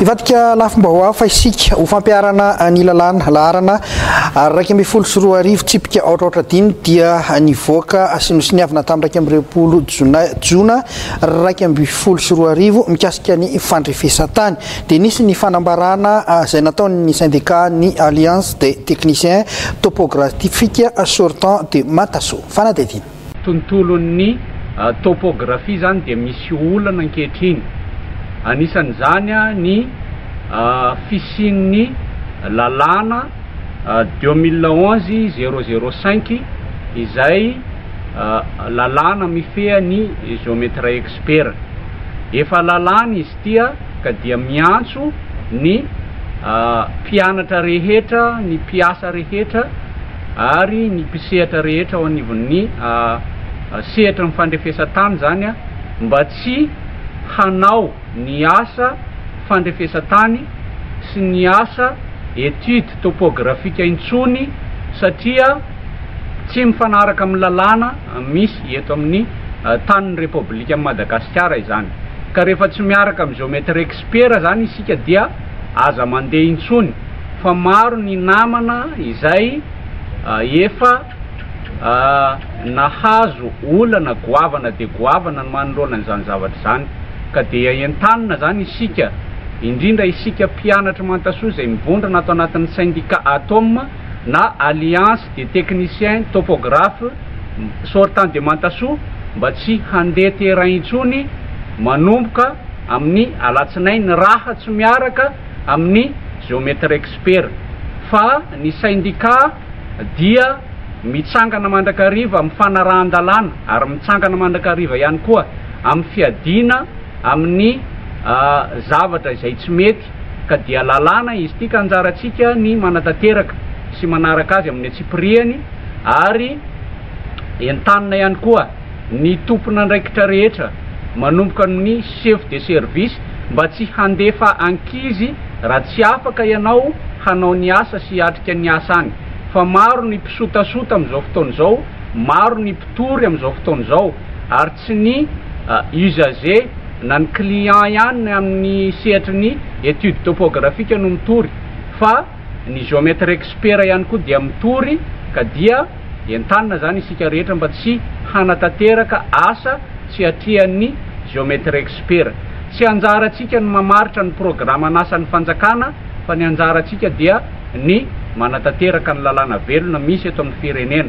Hivadika lafim-baovao hafa isika ho fampiharana ny lalàna, laharana iraika ambin'ny folo sy roa arivo, tsipika aotra aotra dimy, dia nivoaka sy nosoniavina tamin'ny iraika amby roapolo jona iraika ambin'ny folo sy roa arivo mikasika ny fandrefesan-tany. Dia nisy ny fanambarana izay nataon'ny sendika ny Alliance des Techniciens Topographiques Sortants de Matasoa. Fanadihadiana. tontolon'ny topografia izany dia misy olana ankehitriny. Anisan'izany ny fisian'ny lalàna deux mille onze zéro zéro cinq izay lalàna mifehy ny Geometria Expert. Efa lalàna izy ity ka dia miantso ny mpianatra rehetra, ny mpiasa rehetra, ary ny mpisehatra rehetra ao anivon'ny sehatry ny fandrefesan-tany izany mba tsy hanao ny asa fandrefesan-tany sy ny asa étude topografika intsony satria tsy mifanaraka amin'ny lalàna misy eto amin'ny tanin'ny Repoblikan'i Madagasikara izany ka rehefa tsy miaraka amin'ny géomètre expert izany isika dia aza mandeha intsony fa maro ny namana izay efa nahazo olana goavana dia goavana ny manoloana an'izany zavatra izany ka dia entanina izany isika indrindra isika mpianatry Mantasoa izay mivondrona ato anatin'ny syndicat ATOM na Alliance des Techniciens Topographes Sortants de Mantasoa mba tsy handeha terrain intsony manomboka amin'ny alatsinainy raha tsy miaraka amin'ny Geometrexpert fa ny Syndicat dia mitsangana mandrakariva amin'ny fanarahan-dalàna ary mitsangana mandrakariva ihany koa amin'ny fiadiana amin'ny zavatra izay tsy mety ka dia lalàna izy ity ka anjarantsika ny manatanteraka sy manaraka azy amin'ny antsipirihany ary entanina ihany koa ny tompon'andraikitra rehetra manomboka amin'ny chef de service mba tsy handefa ankizy raha tsy afaka ianao hanao ny asa sy hiatrika ny asa any fa maro ny mpisotasota amin'izao fotoana izao, maro ny mpitory amin'izao fotoana izao ary tsy ny usager na ny client ihany amin'ny sehatry ny etude topographique no mitory fa ny geomètre expert ihany koa dia mitory ka dia Entanina izany isika rehetra mba tsy hanatanteraka asa tsy atrian'ny Geometry Expert. Tsy anjarantsika ny mamaritra ny programan'asan'ny fanjakana fa ny anjarantsika dia ny manatanteraka ny lalàna velona misy eto amin'ny firenena.